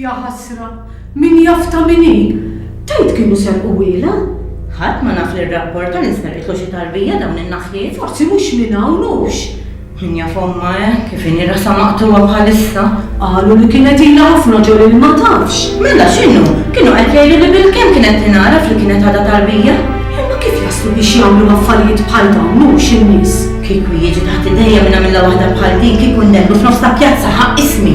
Ja ħasra, min jafta minni? Tajt kienu serqu wila? ħadd ma naf li r-rapport tal-insmerqitlu xi tarbija dawn in-naħliet. Forsi mhux minn hawn hux. Kien jaf ommha eh, kif inhi rasha maqtugħa bħalissa. Qalu li kienet ilha ħafna ġo lili ma tafx. Mela x'inhu? Kienu qed jgħidu li bilkemm kienet tingħaraf li kienet għadha tarbija. Imma kif jaslu biex jagħmlu affarijiet bħal dawn hu x'in-nies? Kieku jiġi taħt idejja minn għamilla waħda bħal din kieku nnellu f'nofs ta' pjazza ħa ismi.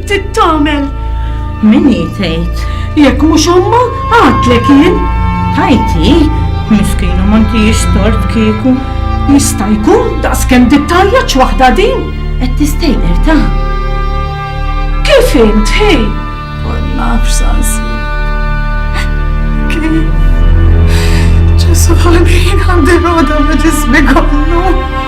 Trid tagħmel. Min hi tgħid? Jekk mhux omma, għadlek jien. Tajti, miskina ma ntix tort kieku. Jista' jkun daqskemm dittajja waħda din. Qed tistejqer ta' Kif int, hej? Ma nafx sansi. Kif? Ġesu ħalbin għandi roda ma ġismi kollu.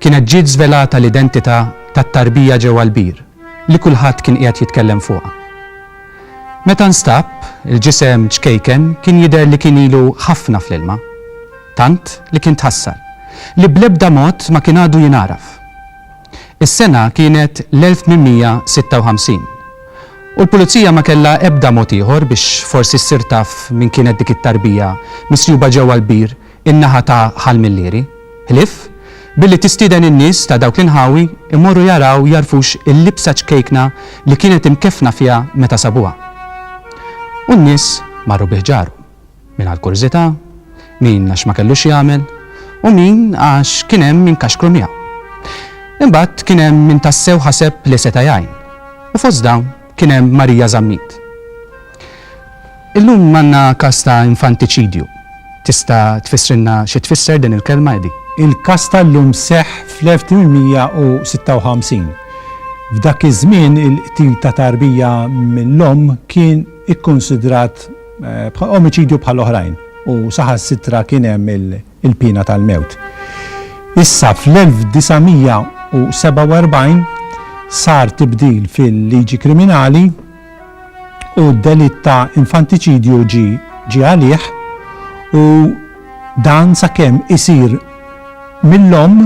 kienet ġiet żvelata l-identità tat-tarbija ġewwa l-bir li kulħadd kien qiegħed jitkellem fuqha. Meta nstab, il-ġisem ċkejken kien jidher li kien ilu ħafna fl-ilma, tant li kien tħassar li bl-ebda mod ma kien għadu jingħaraf. Is-sena kienet l-1856 u l-Pulizija ma kellha ebda mod ieħor biex forsi ssir taf min kienet dik it-tarbija misjuba ġewwa l-bir in-naħa ta' Ħal Millieri, Ħlief, billi tistieden in-nies ta' dawk l-inħawi jmorru jaraw jagħrfux il-libsa ċkejkna li kienet imkeffna fiha meta sabuha. U n-nies marru bi ħġarhom, min għal kurżità, min għax ma kellu x'jagħmel, u min għax kien hemm min kaxkru miegħu. Imbagħad kien hemm min tassew ħaseb li seta' jgħin, u fost dawn, Kien hemm Marija Zammit. Illum għandna każ ta' infantiċidju. Tista' tfissrilna xi tfisser din il-kelma, Eddie? Il-każ tal-lum seħħ fl-1856. F'dak iż-żmien il-qtil ta' tarbija mill-omm kien ikkunsidrat omiċidju bħal oħrajn u saħansitra kien hemm il-piena tal-mewt. Issa fl-1947 sar tibdil fil-liġi kriminali u d-delitt ta' infantiċidju ġie għalih u dan sakemm isir mill-omm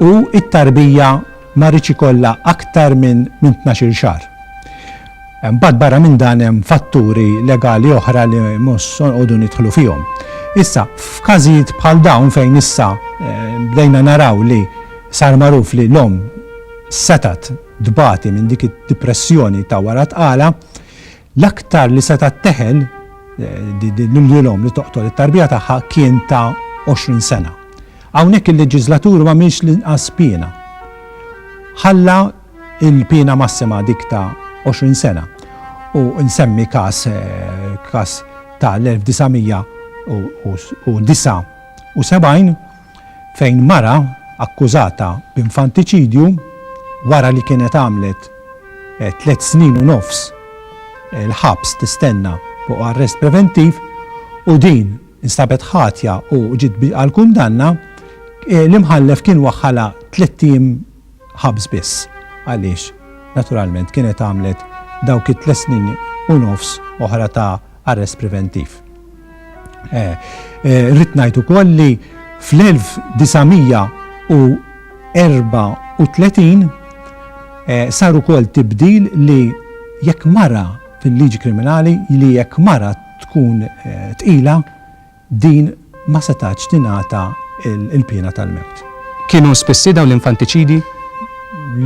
U t-tarbija ma rridx ikollha aktar minn minn tnax-il xahar. Imbagħad barra minn dan hemm fatturi legali oħra li mhux se noqogħdu nidħlu fihom. Issa, f'każijiet bħal dawn fejn issa bdejna naraw li sar magħruf li l-omm setgħet tbati minn dik id-dipressjoni ta' wara t-tqala, L-aktar li setgħet teħel lilhom li toqtol it-tarbija tagħha kien ta' 20 sena. Hawnhekk il-leġiżlatur ma minx l-inqas piena. Ħalla il-piena massima dik ta' 20 sena u nsemmi każ każ ta' l-1979 fejn mara akkużata b'infantiċidju wara li kienet għamlet tliet snin u nofs il-ħabs tistenna fuq arrest preventiv u din instabet ħatja u ġiet għall-kundanna, l-Imħallef kien waħħalha tliet ijiem ħabż biss għaliex naturalment kienet għamlet dawk it-tliet snin u nofs oħra ta' arrest preventiv. Rrid ngħid ukoll li fl-1934 sar ukoll tibdil li jekk mara fil-liġi kriminali li jekk mara tkun tqila din ma setgħatx tingħata l-piena tal-mewt. Kienu spissi dawn l-infantiċidi?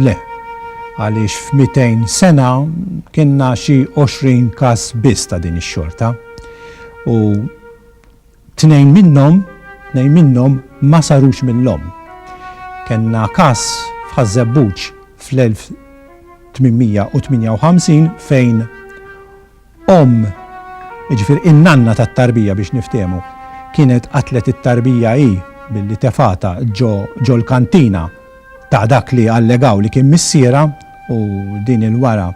Le, għaliex f'mitejn sena kellna xi għoxrin każ biss ta' din ix-xorta, u tnejn minnhom, tnejn minnhom ma sarux mill-omm. Kellna każ f'Ħaż-Żebbuġ fl-1858 fejn, Omm, jiġifieri in-nanna tat-tarbija biex niftehmu, kienet qatlet it-tarbija hi billi tefgħatha ġo ġo l-kantina ta' dak li allegaw li kien missierha u din il-wara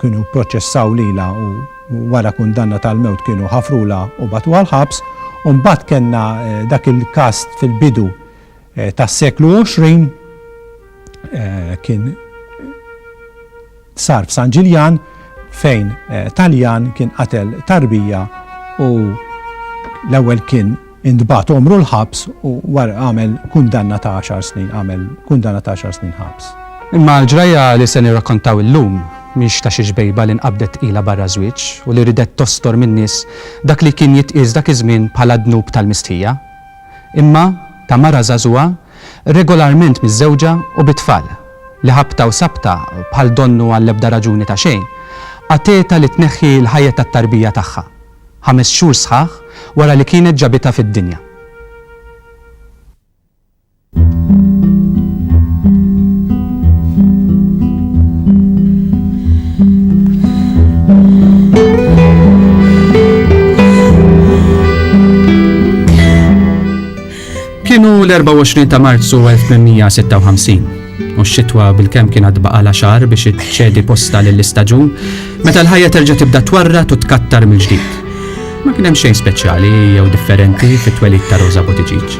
kienu pproċessaw lilha u wara kundanna tal-mewt kienu ħafrulha u bagħtuha l-ħabs u mbagħad kellna dak il-każ fil-bidu tas-seklu 20 kien Sar f'San Ġiljan fejn Taljan kien qatel tarbija u l-ewwel kien intbagħat għomru l-ħabs u wara għamel kundanna ta' għaxar snin, għamel kundanna ta' għaxar snin ħabs. Imma l-ġrajja li se nirrakkontaw illum mhix ta' xi xbejba li nqabdet tqila barra ż-żwieġ u li ridet tostor min-nies dak li kien jitqies dak iż-żmien bħala d-dnub tal-mistħija. imma ta' mara żagħżugħa regolarment miżżewġa u bi tfal, li ħabta u sabta bħal donnu għall-ebda raġuni ta' xejn, għatetha li tneħħi l-ħajja tat-tarbija tagħha, ħames xhur sħaħ wara li kienet ġabitha fid-dinja. Kienu l-24 ta' Marzu 1856 u x-xitwa bil-kem kien għad baqala xar biex iċċedi posta lill-istaġun meta l-ħajja terġa' tibda twarra u tkattar mill-ġdid. Ma kien hemm xejn speċjali jew differenti fit-twelid ta' Rosa Buttigieg.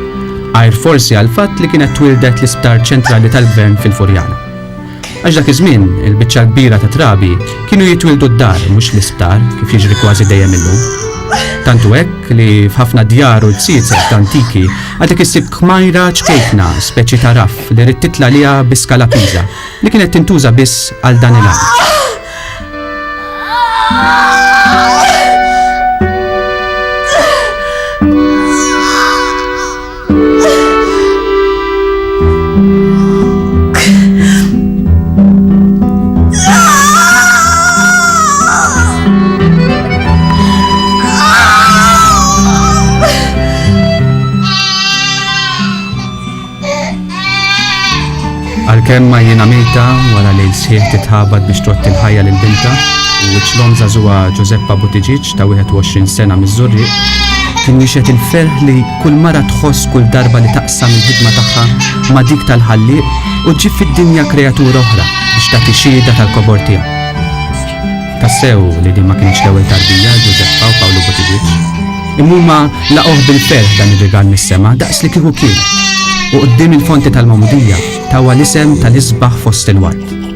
Għajr forsi għal fatt li kienet twildet l-isptar ċentrali tal-gvern fil-Furjana. Għax dak iż-żmien, il-biċċa l-kbira ta' trabi kienu jitwildu d-dar mhux l-isptar kif jiġri kważi dejjem illum. Tantu hekk li f'ħafna djar u l-tsietzet antiki għadek issib kmajra ċkejkna speċi ta' raff li rid titla' liha bi skala piża li kienet tintuża biss għal dan il-għan. Għalkemm ma jiena mejta wara li l-sħiħ titħabad biex trott il-ħajja lil binta u ċlom zazuwa Giuseppa Butiġiċ ta' 21 sena miż-Żurriq kien jixed il-ferħ li Kull mara tħoss kull darba li taqsam il-ħidma tagħha ma' dik tal-Ħallieq u ġġib fid-dinja kreatura oħra biex tagħti xiehda tal-kobor tiegħu. Tassew li din ma kienx l-ewwel tarbija Ġużeppa u Pawlu Buttigieg. Imma laqgħuh bil-ferħ dan ir-rigal mis-sema daqs li kieku kien. U quddiem il-fonti tal-Magħmudija tawha l-isem tal-isbaħ fost il-ward.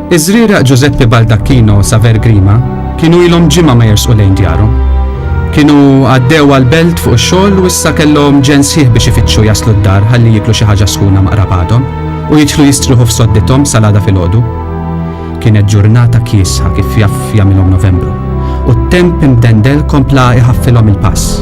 Iż-żrieraq Ġużeppi Baldacchino u Saver Grima kienu ilhom ġimgħa ma jersqu lejn djarhom. Kienu għaddew għall-belt fuq ix-xogħol u issa kellhom ġenn sħiħ biex ifittxu jaslu d-dar ħalli jieklu xi ħaġa sħuna ma' qrabadhom u jidħlu jistrieħu f'soddithom sal-għada filgħodu. Kienet ġurnata kiesħa kif jaf jagħmilhom Novembru u t-temp imdendel kompla iħaffilhom il-pass.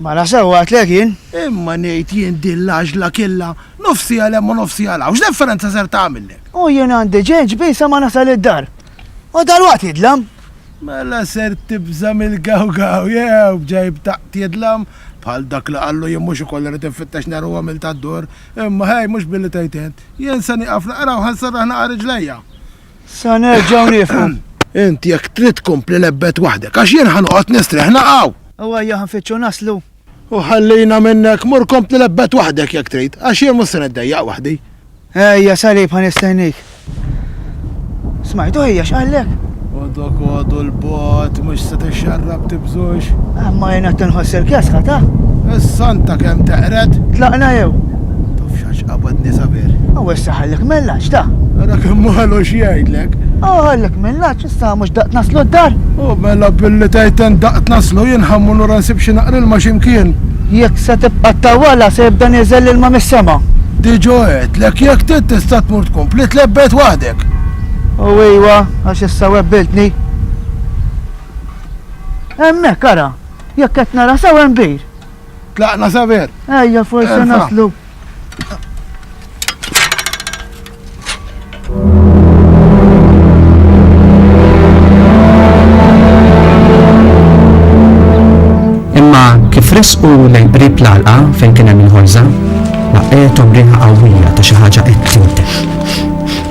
Mala sewwa għidtlek jien. Imma ngħid jien din l-għaġla killha, nofsiha 'l hemm u nofsiha 'l hawn, x'differenza ser tagħmillek? U jien għandi ġenġ bhi sa ma nasal id-dar. U dalwaqt jidlam. Mela ser tibża' mill-gawgaw jew b'ġajb taqt tidlam? Bħal dak li qallu jien mhux ukoll irid infittex nhar u għamilt għad-dur. Imma ħej, mhux billi tgħid int. Jien se nieqaf naqra u ħa nserraħ naqgħa riġlejja. Sa nerġgħu nifhmu. Int jekk trid tkompli lebbet waħdek għax jien ħa noqgħod nistrieħ naqaw! U ejja ħa nfittxu naslu. U ħallina minnek, mur kompli lebbet waħdek jekk trid, għax jien mhux se niddejjaq waħdi. Ejja salib ħa nistennik. Smajtu ħija x'qallek? Dokodu l-bogħod mhux se tixxarrab tibżux. Imma jien qed inħoss il-kesħa ta'. Is-santa kemm teqred. Tlaqna jew. Tafx għax qabadni sabiħ. U issa ħallek mil-lgħaġġ ta'. Ara kemm malu x'jgħidlek. U ħallek mil-lgħaġġ issa mhux daqt naslu d-dar. U mela billi tgħid tant daqt naslu jien ħa mmur lura nsib xi naqra ilma xi mkien. Jekk se tibqa' ttawwalha se jibda nieżel l-ilma mis-sema. Diġà għedtlek jekk trid tista' tmur tkompli tlebbed waħdek. U ejwa. Għax issa webbiltni. Hemmhekk ara, jekk qed nara sew hemm bir. Tlaqna saber. Ejja forsi naslu. Imma kif resqu lejn qrib l-alqa fejn kien hemm il-ħolża, laqgħethom riħa qawwija ta' xi ħaġa qed tintex.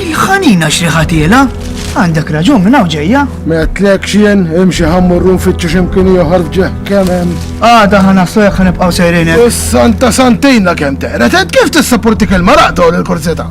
Il-ħanina xriħatiela, għandek raġun minn hawn ġejja. Metlek xien, imxi ħammurru nfittxu x'imkien ieħor f'ġeħ kemm hemm. Għada ħana sojja ħan nibqgħu sejrin. Is-santa santejna kemm teqret, kif tissapporti kelma raqta u l-kurzita?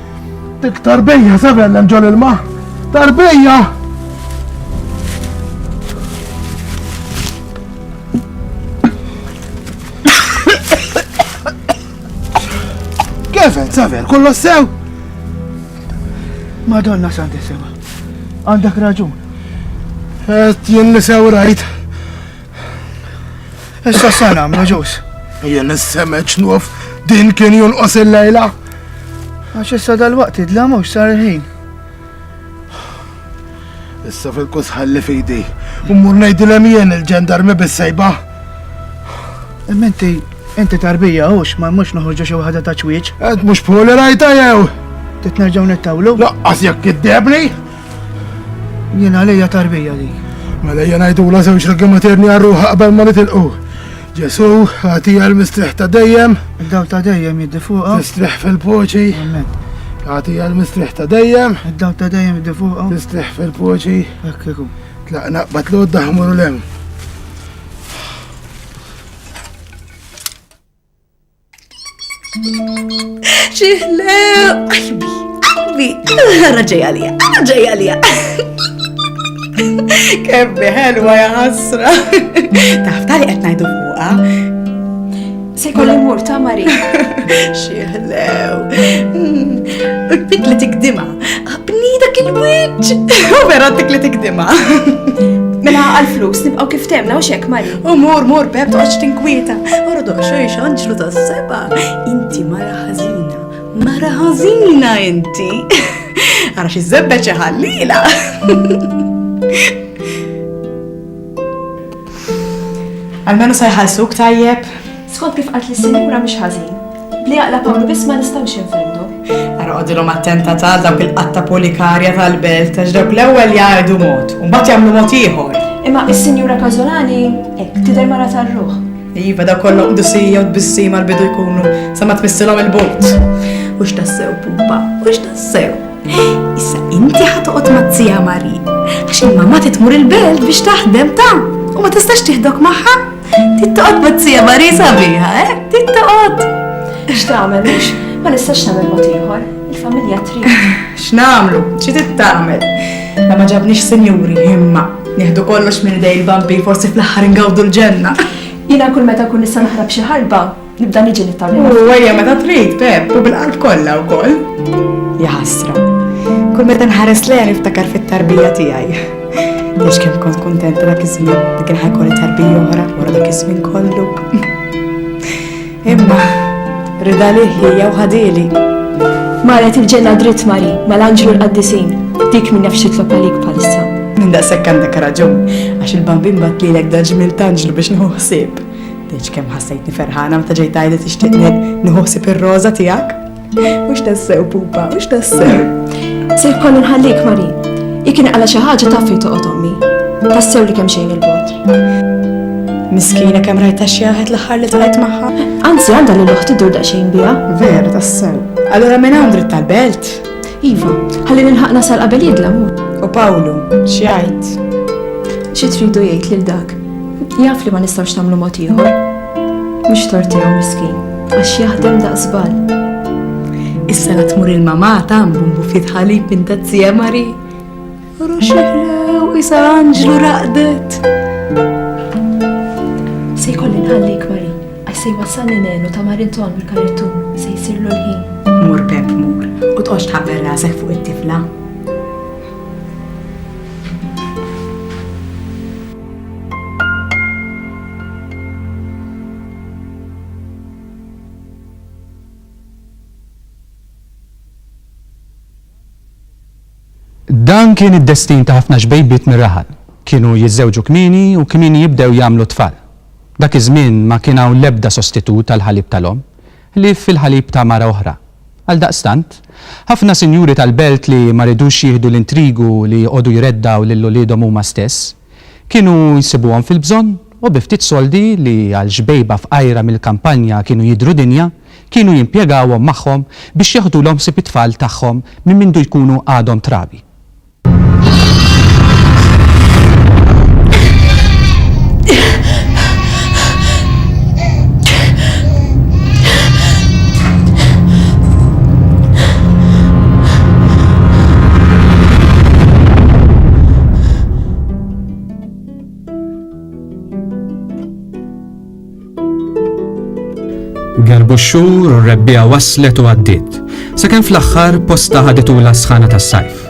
Dik tarbija se bellem ġol ilma. Tarbija! Kevin, saver, kollox sew? Madonna Santissima, għandak raġun. Et jien li sew rajt. Issa sa nagħmlu ġus. Jien is-semeċ nuf din kien jonqos il-lejla. Għax issa dal-waqt idla mhux sar il-ħin. Issa fil-kus ħalli fidi. Ummur ngħidilhem jien il-ġendarmi bis-sejba. Imma inti inti tarbija hux ma mhux noħorġu xi waħda ta' ċwieġ. Qed mhux poli rajta jew. Titnerġgħu nittawlu? Laqqas jekk iddebni. Jien għalija tarbija li. Mela jien għajdula żewġ ragi materni għarruħa qabel ma nitilqu. Ġesu, għati għal mistriħ ta' dejjem. Id-daw ta' dejjem jiddi fuqa. Mistriħ fil-poċi. Għati għal mistriħ ta' dejjem. Id-daw ta' dejjem jiddi fuqa. Mistriħ fil-poċi. Ekkiku. Tlaqna batlu d-daħmur l-hemm. Ċiħle, qalbi, qalbi, raġej għalija, raġej għalija. Kebbi ħelwa ja ħasra. Taf tali qed ngħidu fuqha. Se jkolli mur ta' Mari. Xieħlew. Hmm. Bit li tikdima. Bnida kien wiċċ. Vera tik li tikdima. Mela għal-flus nibqgħu kif temna u xek Mari. U mur, mur, Pep, toqgħodx tinkwieta. Ordoq xejx anġlu tas-seba. Inti mara ħażina. Mara ħażina inti. Ara xi żebbeċ ħallila. Almenu sa jħallsuk tajjeb. Skont kif qalt li sinjura mhix ħażin. Li jaqla' Pawlu biss ma nistgħux infendu. Ara qogħdilhom attenta tal dawk il-qatta polikarja tal-belt għax dawk l-ewwel jgħidu mod u mbagħad jagħmlu mod ieħor. Imma is-Sinjura Każolani hekk tidher mara tar-ruħ. Iva daw kollhom qdusija u tbissima l-bidu jkunu sa ma tmissilhom il-but. U x'tassew pupa, u x'tassew. Issa inti ħatoqgħod mazzija Mari għax il-mamma titmur il-belt biex taħdem ta' u ma tistax tieħdok magħha. Tittoqgħod Buzzija Mari sabiħa, eh? Tittoqgħod! X'tagħmel mhux? Ma nistax nagħmel mod ieħor. Il-familja trid. X'nagħmlu? Xi tittamel? La ma ġabniex sinjuri, imma nieħdu kollox minn dej il-bambi forsi fl-aħħar ingawdu l-ġenna. Jiena kull meta kun nista' naħrab xi ħarba, Nibda niġi nittarri. U għajja meta trid, Pep, u bil-qalb kollha wkoll. Jaħasra. Kull meta nħares lejha niftakar fit-tarbija tiegħi. Għax kemm kont kontenta dak iż-żmien li kien ħajkolli tarbija oħra wara dak iż-żmien kollu. Imma rida li ħija u ħadili. Marret il-ġenna dritt Mari, mal-anġlu l-qaddisin, dik minn nefx titlob għalik palissa. Minn daqshekk għandek raġun, għax il-bambin bat lilek daġmil tanġlu biex nħu ħsieb. Deċ kemm ħassejtni ferħana meta ġejt għajda tixtieq nħossib ir-roża tiegħek. Mhux tassew pupa, mhux tassew. Sir kollu nħallik Mari. Ikin għala xi ħaġa taf fi toqgħod ommi. Tassew li kemm xejn il-bot. Miskina kemm rajta xi jaħed l-aħħar li tqajt magħha. Anzi għandha li l-oħti dur daqsxejn biha. Vera tassew. Allura minn hawn dritt tal-belt. Iva, ħalli nilħaq nasal qabel jidla mur. U Pawlu, x'jgħid? Xi tridu jgħid lil dak? Jaf li ma nistgħux nagħmlu mod ieħor. Mhux tortihom miskin, għax jaħdem daqsbal. Issa la tmur il-mamata mbumbu ftit ħalib inta t-tzija Mari. Roxillew isa anġlu raqdet. Se jkolli nħallik Mari, għax se jwassalni nenu ta' Marinton mill-karittu se jsirlu l-ħin. Mur Pep mur, u tqox tħabber rasek fuq it-tifla. Dan kien id-destin ta' ħafna xbejbiet mir-raħal. Kienu jiżżewġu kmieni u kmieni jibdew jagħmlu t-tfal. Dak iż-żmien ma kien hawn l-ebda sostitut għall-ħalib tal-omm, ħlief il-ħalib ta' mara oħra. Għaldaqstant, ħafna sinjuri tal-belt li ma ridux jieħdu l-intrigu li joqogħdu jreddgħu lil uliedhom huma stess, Kienu jsibuhom fil-bżonn u bi ftit soldi li għal xbejba fqajra mill-kampanja kienu jidhru dinja, kienu jimpjegawhom magħhom biex jeħdulhom ħsieb it-tfal tagħhom minn mindu jkunu għadhom trabi. Gerbu x-xhur u r-rebbija waslet u għaddiet. Sakemm fl-aħħar posta ħaditu l-asħana tas-sajf.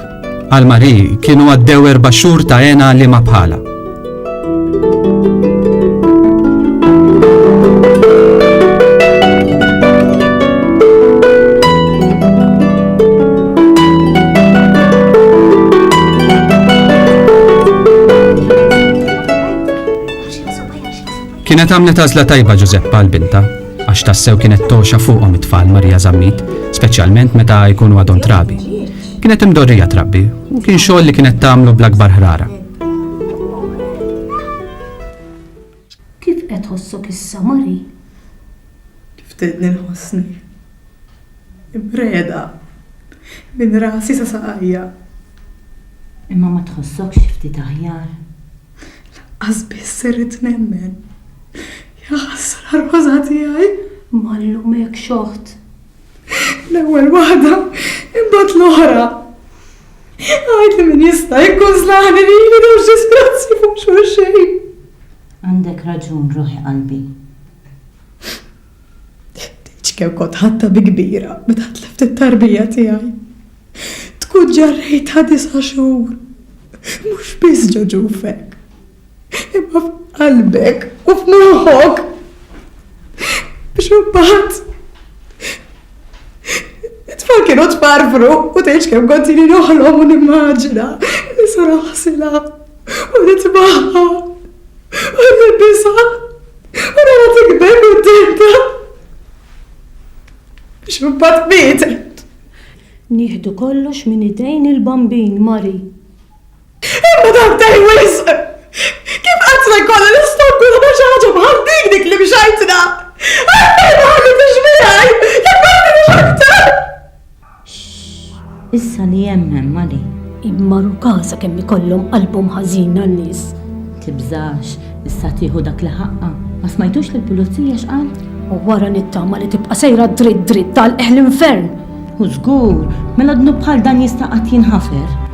Għal Mari kienu għaddew erba' xhur ta' għena li ma bħala. Kienet għamlet għażla tajba Ġużeppa għal binta, għax tassew kienet toxa fuqhom it-tfal Marija Zammit, speċjalment meta jkunu għadhom trabi. Kienet imdorrija trabbi u kien xogħol li kienet tagħmlu bl-akbar ħrara. Kif qed ħossok issa Mari? Kif tedni nħossni? Impreda, minn rasi sa saqajja. Imma ma tħossokx xi ftit aħjar? Lanqas biss irrid nemmen. Jaħasra Roża tiegħi! Ma nlumekx oħt. L-ewwel waħda, imbagħad l-oħra. Għid li min jista' jikkunżlani li jien u x'disgrazzji fuq xulxin. Għandek raġun ruħi qalbi. Ħtieġ kieku kont ħadtha bi kbira meta tlift it-tarbija tiegħi. Tkun ġarrejtha disa' xhur, mhux biss ġo ġufek, imma f'qalbek u f'moħħok biex imbagħad it-tfal kienu tfarfru u tgħidx kemm kont ili noħlom u nimmaġina li sar aħsilha u nitbagħha u nilbisha. U nara tikber kuntenta. Biex imbagħad mietet. Nieħdu kollox minn idejn il-bambin, Mari. Imma dan tej wisq! Kif qatt se jkollha l-istonkulu ta' xi ħaġa bħal dik dik li mxajtna? Għalfejn ma ħallitiex miegħi? Jekk għandi nixħet! X'ss, issa li hemm hemm għali. Imma ruka sakemm ikollhom qalbhom ħażina n-nies. Tibżax, issa tieħu dak li ħaqqha. Ma smajtux lill-pulizija x'qal? U wara nittama li tibqa' sejra dritt dritt tagħlqeh l-infern! U żgur, mela dnub bħal dan jista' qatt jinħafer?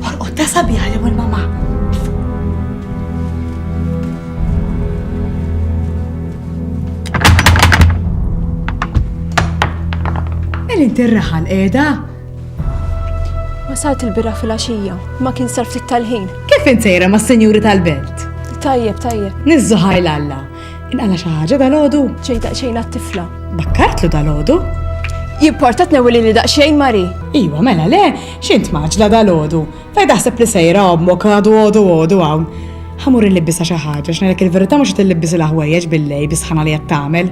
Orqodha sabiħa li mur mama. Mel inti r-raħal qiegħda? Wasalt il-bira fil-għaxija, ma kien sar ftit tal-ħin. Kif insejra ma' senjuri tal-belt? Tajjeb, tajjeb. Nizzu ħajl Alla. Inqala xi ħaġa dal-għodu? Ġej daqsxejn għat-tifla. Bakkartlu dal-għodu? Jimportat newili li daqsxejn Mari. Iwa, mela le, X'int mgħaġġla dalgħodu? Fejn taħseb li sejra ommok għadu għodu għodu hawn? Ħa mur illibbisha xi ħaġa x'ngħidlek il-verità mhux qed illibbis il-ħwejjeġ bil-lejl bis-sħana li qed tagħmel.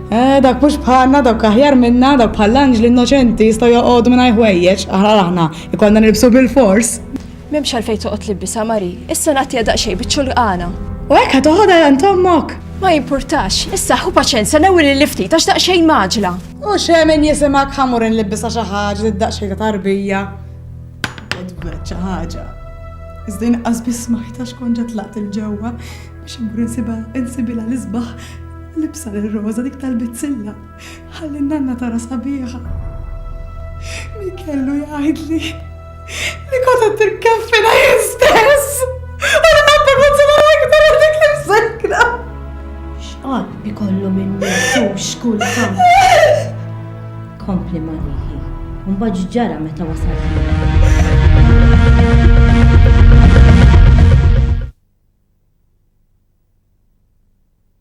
Eh, dak mhux bħalna, dak aħjar minna, dak bħall-anġli innoċenti jistgħu joqogħdu mingħajr ħwejjeġ, aħna aħna ikollna nilbsu bil-fors. M'hemmx għalfejn toqgħod libbisha Mari, issa nagħtiha daqsxejn biċ-ċulqana. U hekk ħa toħodha għand ommok. Ma jimpurtax, issa ħu paċenza l-ewwel il-lifti tax daqsxejn maġla. U xemen jisimgħek ħamur inlibbisha xi ħaġa li daqsxejn ta' tarbija. Edward xi ħaġa. Iżda inqas biss smajtha xkont ġa tlaqt il ġewwa biex immur insibha insibilha l-isbaħ libsa lil Rosa dik tal-bizzilla ħalli n-nanna tara sabiħa. Min kellu jgħidli Li kont qed tikkaffina jien stess! U li ħadd ma sema iktar għal dik l-imsekra! X'qatt ikollu minn mintux kultant! Kompli ma riħi, u mbagħad ġara meta wasal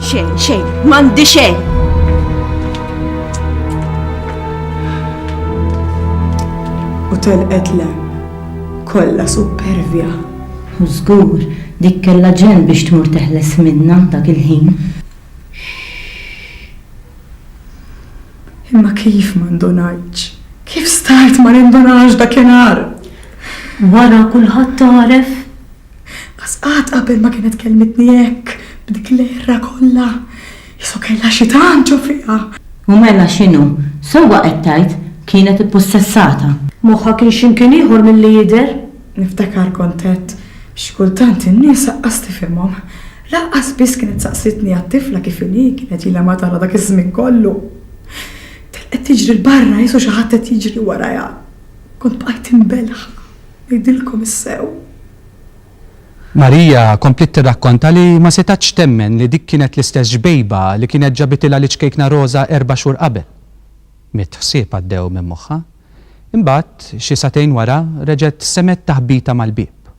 Xejn, xejn, m'għandi xejn. U telqet le, kollha supervja. U żgur, dik kellha ġen biex tmur teħles minna dak il-ħin. Imma kif ma ndunajtx? Kif start ma nindunax dakinhar? Wara kulħadd għaref Qas qatt qabel ma kienet kellmitni hekk, b'dik l-għerra kollha. Isu kellha xi tant ġo fiha! U mela x'inhu? Sewwa qed tgħid, kienet ippussessata. Moħħha kien x'imkien ieħor milli jidher. Niftakar kont għedt, xi kultant in-nies aqqas tifhimhom. Lanqas biss kienet saqsitni għat-tifla kif inhi, kienet ilha ma tara dak iż-żmien kollu. Telqet tiġri 'l barra, isu xi ħadd qed jiġri warajha. Kont bqajt imbelħ. Ngħidilkom is-sew? Maria kompliet tirrakkonta li ma setgħetx temmen li dik kienet l-istess ġbejba li kienet ġabitilha l-iċkejkna roża erba' xhur qabel. Mitt ħsieb għaddew minn moħħha. Imbagħad, xi sagħtejn wara, reġgħet semgħet taħbita mal-bieb.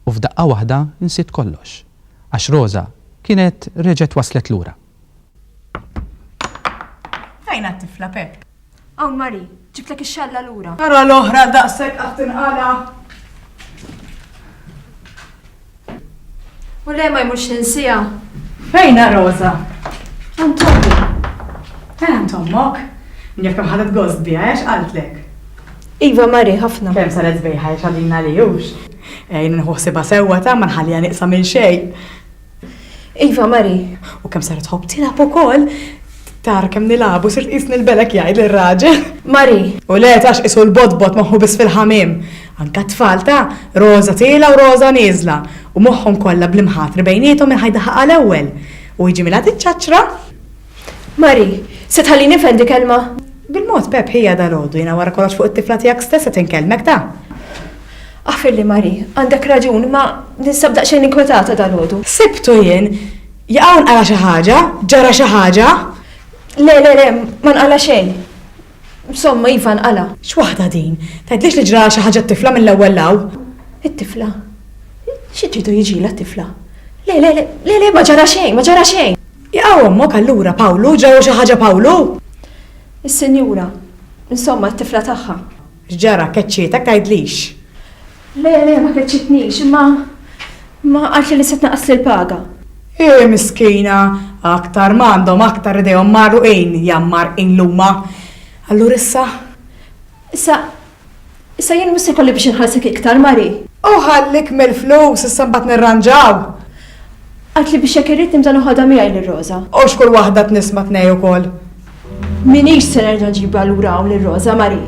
U f'daqqa waħda nsiet kollox. Għax Roża kienet reġgħet waslet lura. Fejn għat-tifla, Pepp? Hawn Marie, ġibtlek ix-xalla lura. Ara l-oħra daqshekk qatt tinqala'. U le ma jmurx ninsiha. Fejn Rosa? Għand ommi. Fejn għand ommok? Min jaf kemm ħadet gost biha, għax qaltlek. Iva Marie, ħafna. Kemm saret sbejħa għax għadin għalihux. Ejn inħu ħsiebha sewwa ta' ma nħalliha nieqsa minn xejn. Iva, Mari, u kemm saret tħobb tilgħab ukoll. Tara kemm nilagħbu sirt qisni l-belek jgħid lir-raġel. Mari. U le tarax qisu l-botbot moħħu biss fil-ħamiem. Anke t-tfal ta', Roża tielgħa u Roża nieżla, u moħħhom kollha bl-imħatri bejniethom minn ħa jdaħħaqha l-ewwel. U jiġi Milad iċċaċċra. Marie, Se tħallini nifhem di kelma? Bil-mod, Pep, hija dalgħodu, jiena wara kollox fuq it-tifla tiegħek stess qed inkellmek, ta? Aħfirli Marie, għandek raġun, imma ninsab daqsxejn inkwetata dalgħodu. Sibtu jien? Jaqaw nqala' xi ħaġa? Ġara xi ħaġa? Le, le, le, ma nqala' xejn. Insomma, iva nqala'. X'waħda din? Tgħidlix li ġralha xi ħaġa t-tifla mill-ewwel 'l hawn? It-tifla? Xi tridu jiġilha t-tifla? Le, le, le, le, le, ma ġara xejn, ma ġara xejn. Iqaw ommok allura, Pawlu, ġara xi ħaġa Pawlu? Is-Sinjura, insomma, t-tifla tagħha. X'ġara, keċċietek tgħidlix? Le, le, ma keċċitnix, imma, imma qaltli li se tnaqqasli l-paga. Hi miskina, aktar ma għandhom aktar idejhom magħrruqin, jammar in l-huma. Allura issa? Issa, Issa jien mhux se jkolli biex inħallsek iktar, Marie. U ħallik mill-flus, issa mbagħad nirranġaw. Għidt li biex jekk irrid nibda noħodha miegħi lil Rosa. U x'kull waħda tnissma' tnej ukoll. M'iniex se nerġa' nġibha lura hawn lil Rosa, Marie.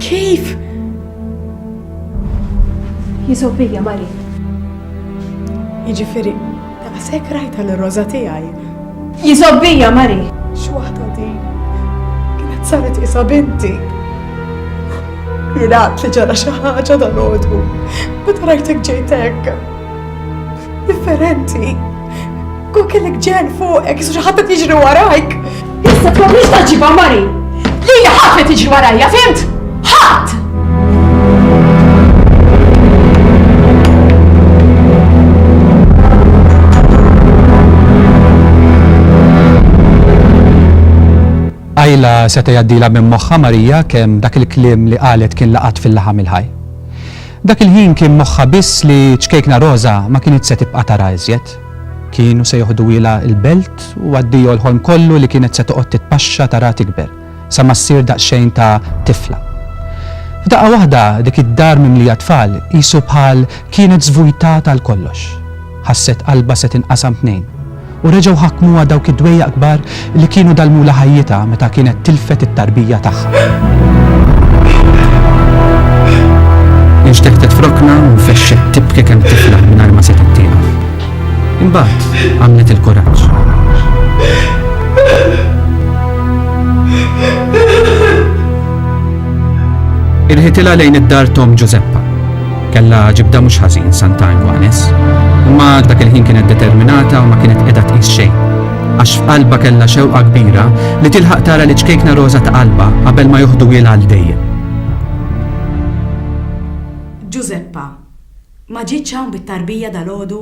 Kif? Jiżgħu bija, Marie. Jiġifieri, Daqshekk rajtha lil Roża tiegħi. Jiżobbija Mari! X'waħda di? Kienet saret isa binti. Jirat li ġara xi ħaġa dal-għodu. Meta rajtek ġejt hekk. Differenti. Kol kellek ġen fuqek, xi ħadd qed jiġri warajk. Issa propju sta ġibha mari. Lili ħadd ma tiġi warajja, fimt? Ħadd! Ajla seta jaddila minn moħħa Marija kemm dak il-kliem li qalet kien laqat fil-laħam il-ħaj. Dak il-ħin kien moħħa biss li ċkejkna Rosa ma kienet se tibqa' tara iżjed. Kienu se joħduhielha l-belt u addio l-ħolm kollu li kienet se toqgħod titpaxxa taraha tikber, sa ma ssir daqsxejn ta' tifla. F'daqqa waħda dik id-dar mimlija tfal qisu bħal kienet żvujtata għal kollox. Ħasset qalbha se tinqasam tnejn. U reġgħu ħakmuha dawk id-dwejjaq kbar li kienu dallmulha ħajjitha meta kienet tilfet it-tarbija tagħha. Inxteħtet f'rokna u fexxet tibki kemm tifla mingħajr ma setgħet tieqaf. Imbagħad għamlet il-kuraġġ. Irħitilha lejn id-dar Tom Ġużeppa Kellha ġibda mhux ħażin Santa Anguanes. Imma dak il-ħin kienet determinata u ma kienet qiegħda tqis xejn. Għax f'qalbha kellha xewqa kbira li tilħaq tara li ċkejkna roża ta' qalbha qabel ma joħduhielha għal dejjem. Ġużeppa, ma ġietx hawn bit-tarbija dalgħodu?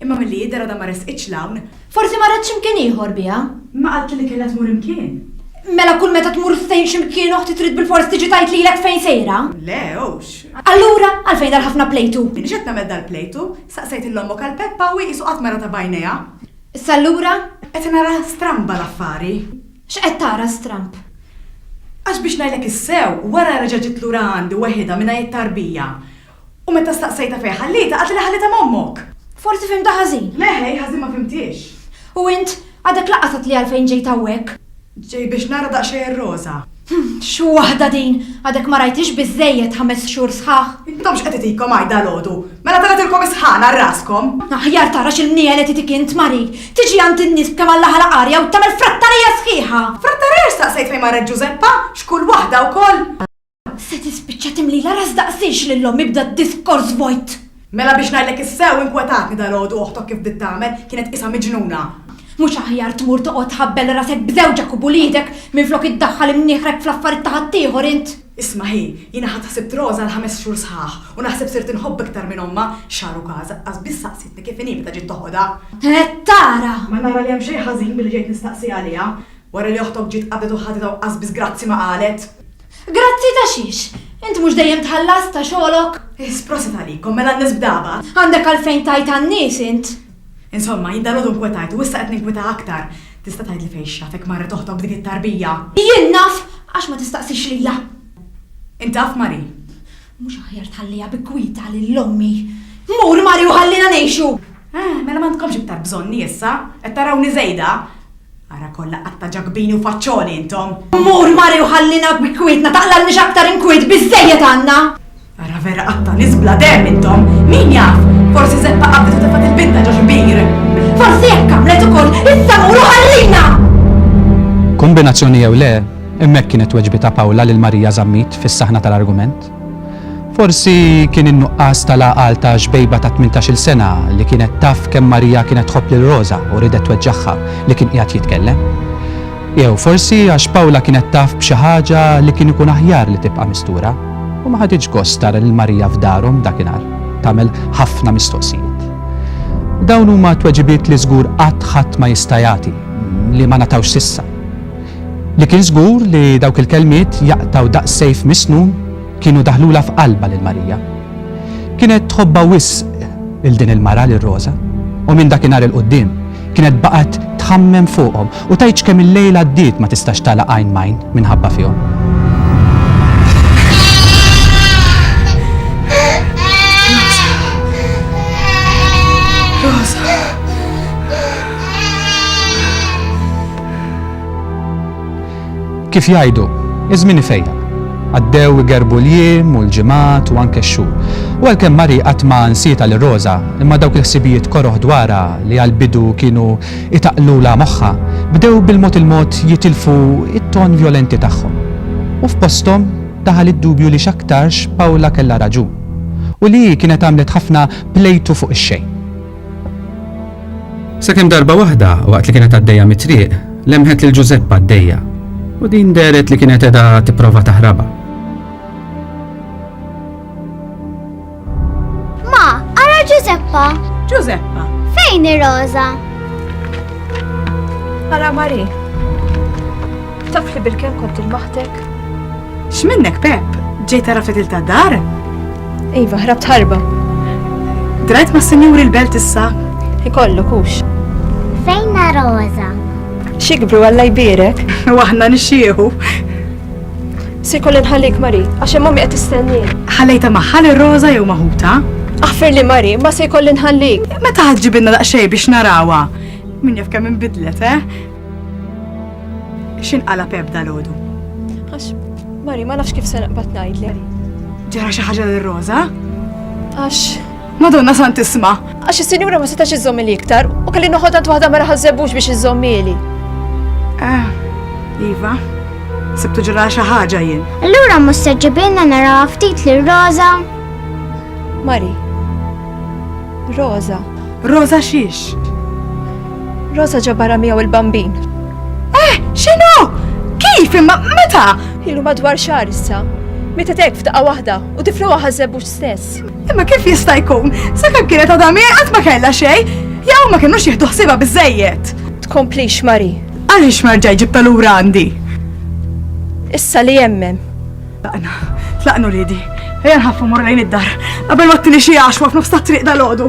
Imma milli jidher għadha ma resqitx 'l hawn. Forsi marret xi mkien ieħor biha. Ma qaltli li kellha tmur imkien? Mela kull meta tmur ftehim xi mkien oħti trid bilfors tiġi tgħid lilek fejn sejra? Le, hux. Allura għalfejn dal-ħafna plejtu? M'iniex qed nagħmel dal-plejtu. Saqsejt 'il ommok għal Peppa u hi qisu qatt ma ratha b'għajnejha. Issa allura? Qed nara stramba l-affari. X'qed tara stramb? Għax biex ngħidlek is-sew, wara reġa' ġiet lura għandi weħidha mingħajr tarbija. U meta staqsejtha fejn ħallietha qaltilha ħallietha ma' ommok! Forsi fhimtha ħażin. Le, hi ħażin ma fhimthiex. U int? Għadek laqqas għedtli għalfejn ġejt hawnhekk. Ġej biex nara daqsxejn ir-Roża. Hm, x'xu waħda din! Għadek ma rajthiex biżżejjed ħames xhur sħaħ? Intom x'qed itikom għajt dalgħodu? Mela tellgħetilkom is-sħana għal raskom! Aħjar tara x'il-mniegħel qed itik int, Mari. Tiġi għand in-nies b'kemm Alla ħalaq arja u tagħmel frattarija sħiħa! Frattarija x'staqsejt fejn marret Ġużeppa? X'kull waħda wkoll! Se tispiċċa timlilha ras daqsiex lil omm ibda d-diskors vojt! Mela biex ngħidlek is-sew inkwetatni dalgħodu oħtok kif bdiet tagħmel, kienet tqisha miġnuna. Mhux aħjar tmur toqgħod tħabbel rasek b'żewġek u b'uliedek minflok iddaħħal imnieħrek fl-affarijiet ta' ħaddieħor int? Isma' hi, jiena ħadt ħsibt Rosa għal ħames xhur sħaħ u naħseb sirt inħobb iktar minn ommha, xahar u każa, aqqas biss saqsietni kif inhi meta ġiet toħodha. Qed tara! Ma nara li hemm xejn ħażin billi ġejt nistaqsi għaliha, wara li oħtok ġiet qabdet u ħaditha u aqqas biss grazzi ma qalet! Grazzi ta' xiex? Int mhux dejjem tħallas ta' xogħlok? Iss, prosit għalikom, mela n-nies b'dagħba. Għandek għalfejn tgħid għan-nies int? Insomma, jien dalgħodu nkwetajt u issa qed ninkweta aktar. Tista' tgħidli fejn x'jafek marret oħtok b'dik it-tarbija? Jien naf, għax ma tistaqsix lija. Int taf, Marie? Mhux aħjar tħalliha bi kwietha lil ommi? Mur mari u ħallina ngħixu! Eh, mela m'għandkomx iktar bżonni issa? Qed tarawni żejda? Ara kollha qatta ġakbini u faċċoli intom! Mur mari u ħallina bi kwietna taqlalniex aktar inkwiet biżżejjed għandna! Ara vera qatta nies bla demm intom! Min jaf? Forsi Zeppa qabdet u tefgħet il-binta ġo xi bir! Forsi hekk għamlet ukoll issa mur u ħallina! Kombinazzjoni jew le, Hemmhekk kienet tweġbi ta' Pawla lil Marija Zammit fis-saħna tal-argument. Forsi kien in-nuqqas tal-għaqal ta' xbejba ta' tmintax-il sena li kienet taf kemm Marija kienet tħobb lil Roża u riedet tweġġagħha li kien qiegħed jitkellem. Jew forsi għax Pawla kienet taf b'xi ħaġa li kien ikun aħjar li tibqa' mistura u ma ħaditx gost tara lil Marija f'darhom dakinhar tagħmel ħafna mistoqsijiet. Dawn huma tweġibiet li żgur qatt ħadd ma jista' jagħti, li ma ngħatawx s'issa. Li kien żgur li dawk il-kelmiet jaqtgħu daqs sejf misnun kienu daħlulha f'qalbha lil Marija. Kienet tħobbha wisq 'il din il-mara lil Roża, u minn dakinhar 'il quddiem kienet baqgħet tħammem fuqhom u tgħidx kemm il-lejl għaddiet ma tistax tagħlaq għajn m'għajn minħabba fihom. Kif jgħidu, iż-żmien ifejjaq. Għaddew igerbu l-jiem u l-ġimgħat u anke x-xhur. U għalkemm Marie qatt ma nsietha lil Rosa, imma dawk il-ħsibijiet koroh dwarha li għall-bidu kienu itaqlulha moħħha, bdew bil-mod il-mod jitilfu t-ton vjolenti tagħhom. U f'posthom daħal id-dubju li x'aktarx Paula kellha raġun. U li hi kienet għamlet ħafna plejtu fuq ix-xejn. Sakemm darba waħda, waqt li kienet għaddejja mit-triq, lemħet lil Ġużeppa għaddejja, u din deret li kienet edha tipprova taħraba. Ma, ara Ġużeppa! Ġużeppa! Fejn ir-roża? Ara Mari, taf li bil-kem kont il-maħtek? X'minnek, Pep? Ġejt tara ftit ta' dar? Iva, ħrabt ħarba. Drajt ma' senjuri l-belt issa? Ikollu kux. Fejn Rosa? Xikbru għalla jbirek? U aħna nixxieħu. Se kollin ħallik Mari, għax hemm ommi qed tistenni. Ħallejta maħħal ir-roża jew maħuta? Aħfer li Mari, ma se kollin ħallik. Meta ħadġibinna daqsxejn biex narawha. Min jaf kemm inbidlet, eh? X'inqalab eb dal-għodu? Għax, Mari, ma nafx kif se naqbad ngħidli. Ġara xi ħaġa lil Rosa? Għax. Madonna sant isma'. Għax is-sinjura ma setax iżżomm li iktar u kelli noħodha waħda ma raħażebux biex iżżommili. Ah, Iva, sibtu ġara xi ħaġa jien. Allura mhux se ġibilna naraw ftit lil Rosa. Mari. Rosa. Rosa xiex? Rosa ġabara miegħu il-bambin. Eh, xinu? Kif imma meta? Ilu madwar xar issa. Meta tek f'daqqa waħda u tiflu ħażeb stess. Imma kif jista' jkun? Sakemm kienet għadha qatt ma kellha xejn, jew ma kinux jieħdu ħsiba biżejjed. Tkomplix Mari. Għaliex marġaj ġibta lura għandi? Issa li jemmem. Tlaqna, tlaqnu ridi. Ejja nħaffu mor lejn id-dar. Qabel ma t-tini xie għaxwa f'nofs ta' triq dal-ħodu.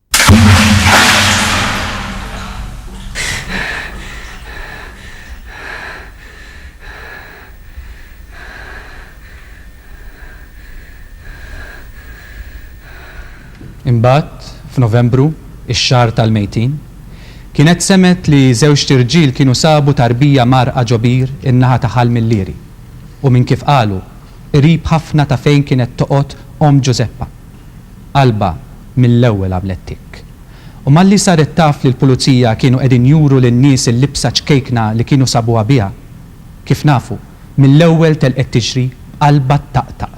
Imbagħad, f'Novembru, ix-xahar tal-mejtin, kienet semgħet li żewġt irġiel kienu sabu tarbija mgħarrqa ġo bir in-naħa ta' Ħal Milieri u minn kif qalu, qrib ħafna ta' fejn kienet toqgħod omm Ġużeppa. Qalbha mill-ewwel għamlet tikk. U malli saret taf li l-Pulizija kienu qegħdin juru lin-nies il-libsa ċkejkna li kienu sabuha biha, kif nafu, mill-ewwel telqet tiġri b'qalbha ttaqtaq.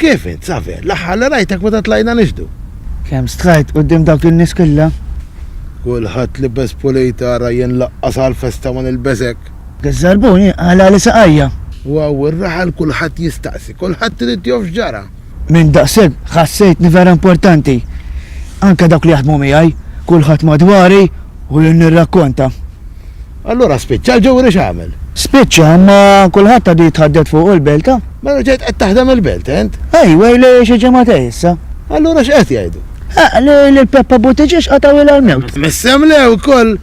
Kif int, Xavier? L-aħħar li rajtek meta tlajna nixhdu. Kemm strajt quddiem dawk in-nies kollha? Kulħadd libes pulit, ara jien laqqas għall-festa ma nilbes hekk. Biż-żarbuni għala li saqajja. U hawn ir-raħal kulħadd jistaqsi, kulħadd irid joff x'ġara. Minn daqshekk ħassejtni vera importanti. Anke dawk li jaħdmu miegħi, kulħadd madwari u jien nirrakkonta. Allura spiċċa l-ġuri x'għamel? Spiċċa, imma kulħadd għadu jitħaddet fuqu l-belt ha? Mela ġejt qed taħdem il-belt int? Ajwa, ilu xi ġimagħtej issa. Allura x'qed jgħidu? Ah, li lil Peppa Buttiġiex qatgħuilha l-mewt. Missem le wkoll!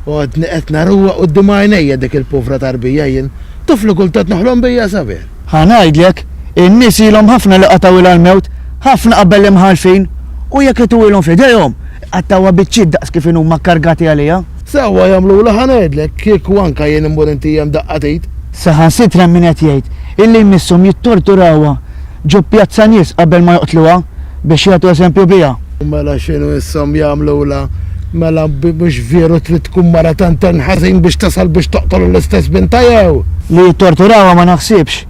Għodni qed naruha quddiem għajnejja dik il-povra tarbija jien. Taf li kultant noħlom bija sabiħ. Ħa ngħidlek, in-nies ilhom ħafna li qatgħuilha l-mewt, ħafna qabel l-imħallfin, u jekk ituwilhom f'idejhom, Qattgħuha biċċiet daqs kif inhu huma kkargati għaliha. Sewwa jagħmlulha ħa ngħidlek, kieku anke jien immur inti hemm daqqa t'id. Saħansitra hemm min qed jgħid illi jmisshom jittorturawha ġo pjazza nies qabel ma joqtluha biex jagħtu eżempju biha. U mela x'inhu jmisshom jagħmlulha? Mela mhux vjeru trid tkun mara tant hemm ħażin biex tasal biex toqtol l-istess bintha jew? Li jittorturawha ma naħsibx.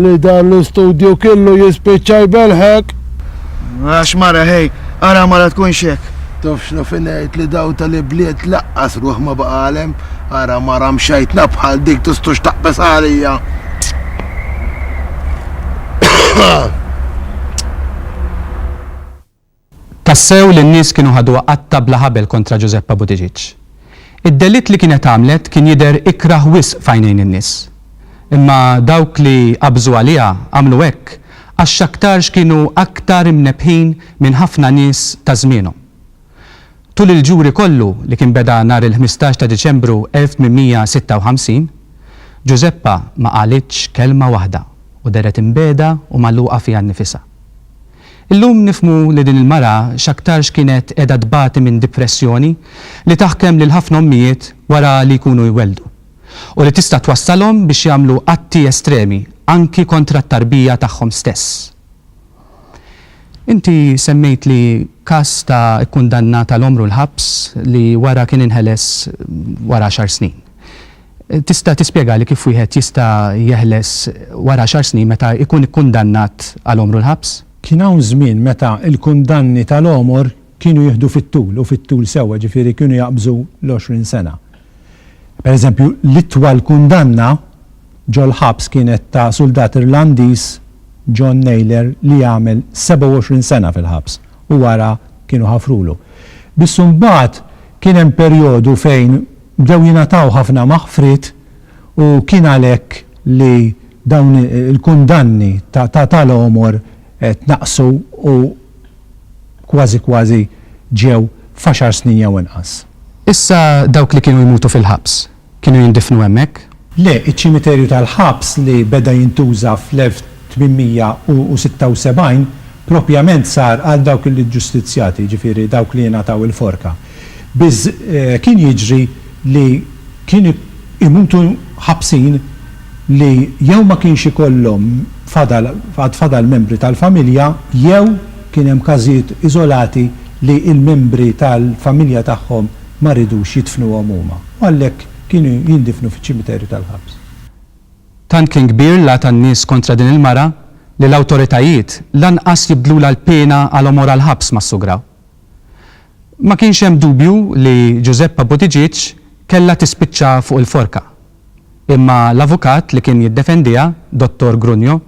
Li dan l-istudju kellu jispiċċa jbelħek! Għax mara ħej, ara mara tkunx hekk! Taf x'na fin ngħid li daw tal-ibliet laqqas ruħ ma baqgħalhem, ara mara mxejtna bħal dik tistux taqbeż għalija! Tassew li n-nies kienu ħaduha qatta' bla ħabel kontra Ġużeppa Buttigieg. Id-delitt li kienet għamlet kien jidher ikrah wisq f'għajnejn in-nies. Imma dawk li qabżu għaliha għamlu hekk għax x'aktarx kienu aktar imnebbħin minn ħafna nies ta' żmienhom. Tul il-ġuri kollu li kien beda nhar il-ħmistax ta' Diċembru 1856, Ġużeppa ma qalitx kelma waħda u dehret imbiegħda u magħluqa fiha nnifisha. Illum nifhmu li din il-mara x'aktarx kienet qiegħda tbati minn dipressjoni li taħkem lil ħafna ommijiet wara li jkunu jwelldu, u li tista' twassalhom biex jagħmlu atti estremi anki kontra t-tarbija tagħhom stess. Inti semmejtli każ ta' ikkundannat għal għomru l-ħabs li wara kien inħeles wara għaxar snin. Tista' tispjegali kif wieħed jista' jeħles wara għaxar snin meta jkun ikkundannat għal għomru l-ħabs? Kien hawn żmien meta l-kundanni tal-għomor kienu jieħdu fit-tul u fit-tul sewwa, ġifieri kienu jaqbżu l-għoxrin sena. Pereżempju, l-itwal kundanna ġol-ħabs kienet ta' suldat Irlandiż, John Naylor, li għamel 27 sena fil-ħabs u wara kienu ħafrulu. Biss imbagħad kien hemm perjodu fejn Bdew jingħataw ħafna maħfriet u kien għalhekk li dawn il-kundanni ta' l-għomor tnaqqsu u kważi kważi ġew f'għaxar snin jew inqas. Issa dawk li kienu jmutu fil-ħabs kienu jindifnu hemmhekk. Le, iċ-ċimiterju tal-ħabs li beda jintuża fl-1876 propjament sar għal dawk il-iġġustizzjati, jiġifieri dawk li ingħataw il-forka. Biz kien jiġri li kien imutu ħabsin li jew ma kienx ikollhom fadal għad fadal membri tal-familja jew kien hemm każijiet iżolati li l-membri tal-familja tagħhom ma ridux jidfnuhom huma u għalhekk Kienu jindifnu fiċ-ċimiterju tal-ħabs. Tant kien kbir l-għa tan-nies kontra din il-mara li l-awtoritajiet lanqas jibdlulha l-piena għal għomor għall-ħabs mas-sugra. Ma kienx hemm dubju li Giuseppa Buttigieg kellha tispiċċa fuq il-forka. Imma l-avukat li kien jiddefendiha, Dottor Grugno,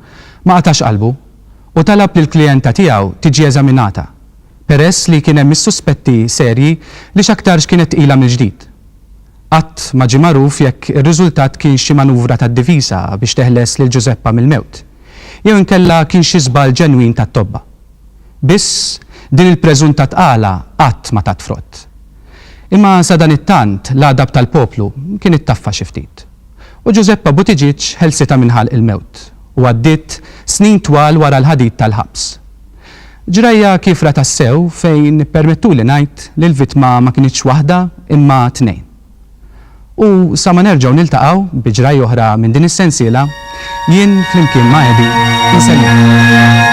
ma qatax qalbu u talab li l-klijenta tiegħu tiġi eżaminata. peress li kien hemm is-suspetti serji li x'aktarx kienet tqila mill-ġdid. Qatt ma ġie magħruf jekk ir-riżultat kienx xi manuvra tad-diviża biex teħles lil Ġużeppa mill-mewt, jew inkella kien xi żball ġenwin tat-tobba. Biss, din il-preżunta tqala qatt ma tat frott. Imma sadanittant l-għadab tal-poplu kien ittaffa xi ftit. U Ġużeppa Buttigieg ħelsitha minn ħalq il-mewt u għaddiet snin twal wara l-ħadid tal-ħabs. Ġrajja kiefra tassew fejn ippermettuli ngħid li l-vittma ma kinitx waħda imma tnejn. U sa ma nerġgħu niltaqgħu bi ġrajja oħra minn din is-sensiela, jien flimkien ma' Eddie insellmilkom.